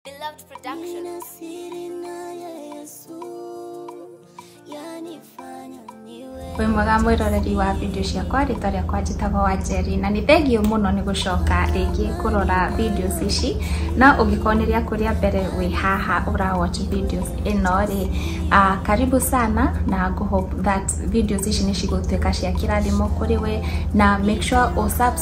Beloved Production. Nina siri naye Yesu yanifanya niwe wĩ mwega mwĩroreri wa video ciakwa rĩtwa rĩakwa njĩtagwo wanjeri na nĩ thengiũ mũno nĩ gũcoka rĩngĩ kũrora videos ici no ũngĩkorwo nĩ rĩaku rĩa mbere wĩ haha ũra watch videos ĩno rĩ ah, karibu sana na ngũhope that videos ici nĩ cigũtuĩka cia kĩrathimo kũrĩ we na make sure ũ subscribe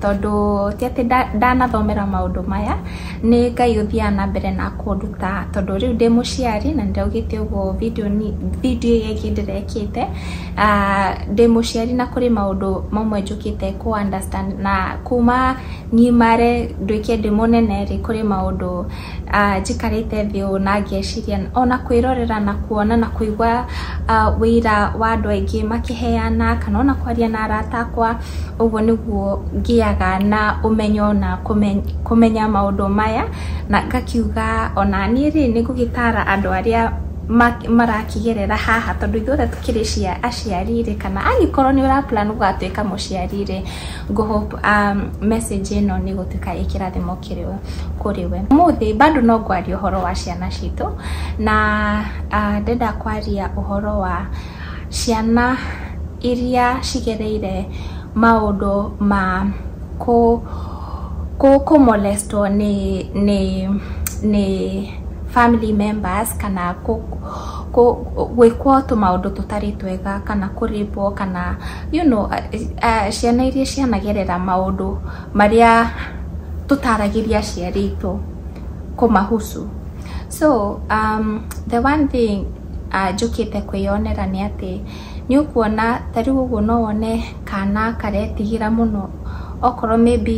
tondũ ti atĩ ndanathomera maũndũ maya, nĩ Ngai ũthiaga na mbere na kũnduta tondũ rĩu ndĩ mũciari na nĩndaugĩte ũguo video ĩrĩa ĩngĩ ndĩrekĩte, ndĩ mũciari na kũrĩ maũndũ mamwe njũkĩte kũ understand na kuma ngimare nduĩke ndĩ mũnene rĩ, kũrĩ maũndũ njikarĩte thĩ ũũ na ngeciria ona kwĩrorera na kuona na kũigua ũira wa andũ aingĩ makĩheyana kana ona kwaria na arata akwa ũguo nĩguo ngĩaga na ũmenyo na kũmenya maũndũ maya na ngakiuga ona niĩ rĩ nĩ ngũgĩtara andũ arĩa marakĩgerera haha tondũ ithuothe tũkĩrĩ aciari rĩ kana angĩkorwo nĩ ũra plan gũgatuĩka mũciari rĩ ngũ hope message ĩno nĩ ĩgũtuĩka ĩ kĩrathimo kũrĩ we. Ũmũthĩ bado no ngwaria ũhoro wa ciana citũ na ndĩrenda kwaria ũhoro wa... ciana iria cigereire maũndũ ma kũ kũ kũ molest wo nĩ nĩ nĩ family members kana kũ kũ gwĩkwo tũmaũndũ tũtarĩ twega kana kũ rape wo kana you know ciana iria cianagerera maũndũ marĩa tũtaragĩria aciari aitũ kũmahusu. So the one thing njũkĩte kwĩyonera nĩ atĩ, nĩ ũkuona ta rĩu ũguo no wone kana karetigĩra mũno okorwo maybe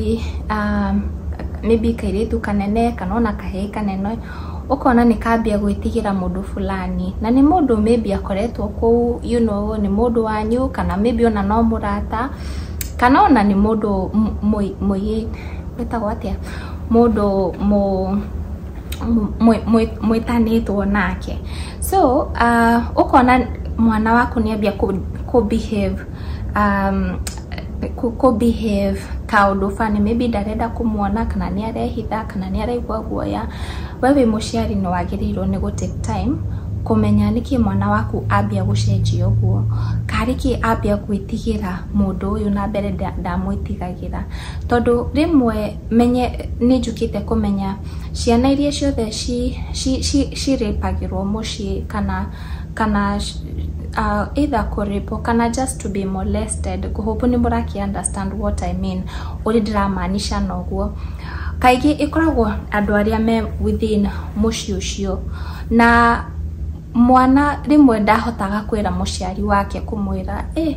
maybe kairĩtu kanene kana ona kahĩĩ kanene, ũkona nĩ kambia gwĩtigĩra mũndũ fulani. Na nĩ mũndũ maybe akoretwo kũu, you know nĩ mũndũ wanyu kana maybe ona no mũrata, kana ona nĩ mũndũ wĩtagwo atĩa, mũndũ mũ... mwĩtanĩtwo nake so uh, ũkona mwana waku nĩ ambia kũbehave um, kũbehave kaũndũ bani maybe ndarenda kũmuona kana nĩ arehitha kana nĩ araigua guoya we wĩ mũciari nĩ wagĩrĩirwo nĩ gũ take time kũmenya nĩkĩ mwana waku ambia gũcenjia ũguo karĩ kĩ ambia gwĩtigĩra mũndũ ũyũ na mbere ndamwĩtigagĩra tondũ rĩmwe menye nĩ njũkĩte kũmenya ciana iria ciothe ci ci ci ci rape agĩrwo mũciĩ kana kana aah either kũ rape wo kana just to be molested ngũ hope nĩ mũrakĩ understand what I mean ũrĩa ndĩra maanisha na ũguo. Kaingĩ ĩkoragwo andũ arĩa me within mũciĩ ũcio na mwana rĩmwe ndahotaga kwĩra mũciari wake kũmwĩra ĩ.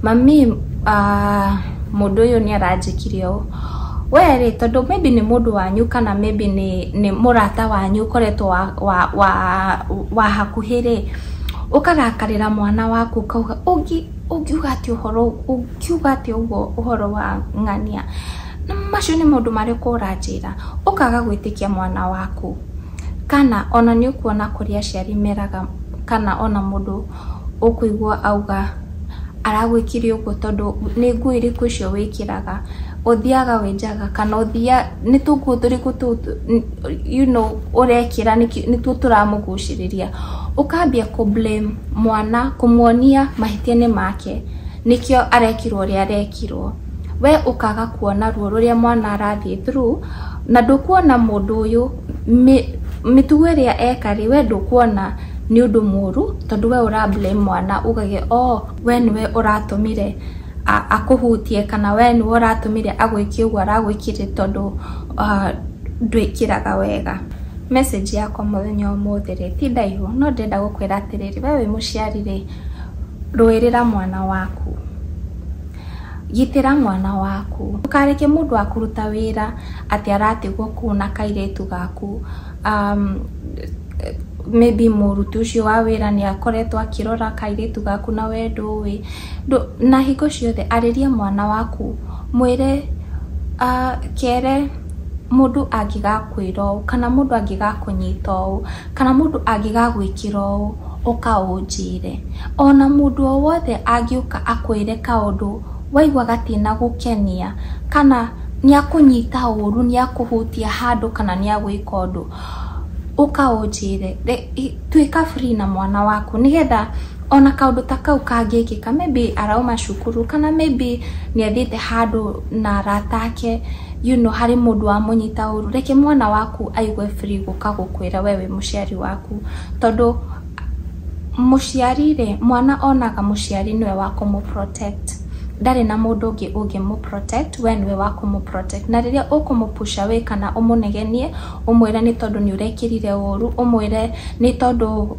Mami, aah, mũndũ ũyũ nĩ aranjĩkire ũũ. Wee rĩ, tondũ maybe nĩ mũndũ wanyu kana maybe nĩ nĩ mũrata wanyu ũkoretwo wa wa wa wa hakuhĩ rĩ, ũkarakarĩra mwana waku ũkauga ũngĩ ũngiuga atĩa ũhoro ũngiuga atĩa ũguo ũhoro wa ng'ania? Macio nĩ maũndũ marĩkũ ũranjĩra? Ũkaga gwĩtĩkia mwana waku. Kana ona nĩ ũkuona kũrĩa aciari meraga kana ona mũndũ ũkũigua auga aragwĩkire ũguo tondũ nĩ nguo irĩkũ icio wĩkĩraga, ũthiaga wenjaga kana ũthia, nĩ tũnguo tũrĩkũ tũu you know ũrekĩra nĩtuo tũramũgucĩrĩria. Ũkambia kũ blame mwana kũmuonia mahĩtia nĩ make nĩkĩo arekirwo ũrĩa arekirwo. We ũkaga kuona ruo rũrĩa mwana arathiĩ through na ndũkuona mũndũ ũyũ mĩtugo ĩrĩa eka rĩ we ndũkuona. nĩ ũndũ mũru tondũ we ũra blame mwana ũgage oo we nĩwe ũratũmire akũhutie kana we nĩwe ũratũmire agwĩke ũguo aragwĩkire tondũ ndwĩkĩraga wega. Message yakwa mũthenya wa ũmũthĩ rĩ ti ndaihu no ndĩrenda gũkwĩra atĩrĩrĩ, we wĩ mũciari rĩ rũĩrĩra mwana waku, gitĩra mwana waku ndũkareke mũndũ akũruta wĩra atĩ aratigwo kũu na kairĩtu gaku. um, maybe mũruti ũcio wa wĩra nĩ akoretwo akĩrora kairĩtu gaku na wendo ũĩ na hingo ciothe arĩria mwana waku mwĩre uh, kere mũndũ angĩgakwĩra ũũ kana mũndũ angĩgakũnyita ũũ kana mũndũ angĩgagwĩkĩra ũũ ũka ũnjĩre ona mũndũ o wothe angĩũka akwĩre kaũndũ waigua gatina gũkenia kana Nĩakũnyita ũũru, nĩakũhutia handũ kana nĩagwĩka ũndũ, ũka ũnjĩre, tuĩka free na mwana waku nĩgetha ona kaũndũ ta kau kangĩkĩka, maybe arauma cukuru kana maybe nĩathiĩte handũ na arata ake, you know harĩ mũndũ wamũnyita ũũru, reke mwana waku aigue free gũka gũkwĩra we wĩ mũciari waku, tondũ mũciari-rĩ, mwana onaga mũciari nĩwe wa kũmũ protect. ndarĩ na mũndũ ũngĩ ũngĩmũ protect, we nĩwe wa kũmũ protect. Na rĩrĩa ũkũmũ push away kana ũmũnegenie, ũmwĩre nĩ tondũ nĩ ũrekĩrire ũũru, ũmwĩre nĩ tondũ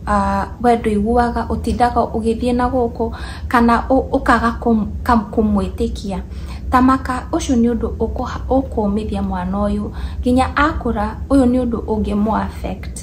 we ndũiguaga, ũtindaga ũgĩthiĩ na gũkũ, kana ũkaga kũmwĩtĩkia, ta maka, ũcio nĩ ũndũ ũkũũmithia mwana ũyũ. Nginya akũra, ũyũ nĩ ũndũ ũngĩmũ affect.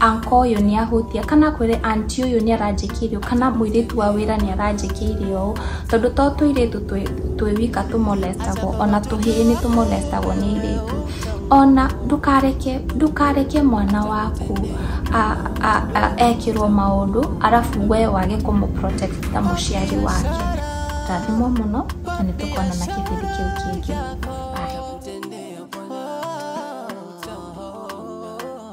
anko ũyũ nĩ ahutia kana kwĩre anti ũyũ nĩ aranjĩkĩire ũũ kana mũirĩtu wa wĩra nĩ aranjĩkĩire ũũ tondũ to tũirĩtu twĩ twĩ wika tũmolestagwo ona tũhĩĩ nĩ tũmolestagwo nĩ airĩtu ona ndũkareke ndũkareke mwana waku a- a- a- ekĩrwo maũndũ arabu we wage kũmũprotect ta mũciari wake rathimwo mũno na nĩ tũkonana kĩbindi kĩu kĩngĩ Bye.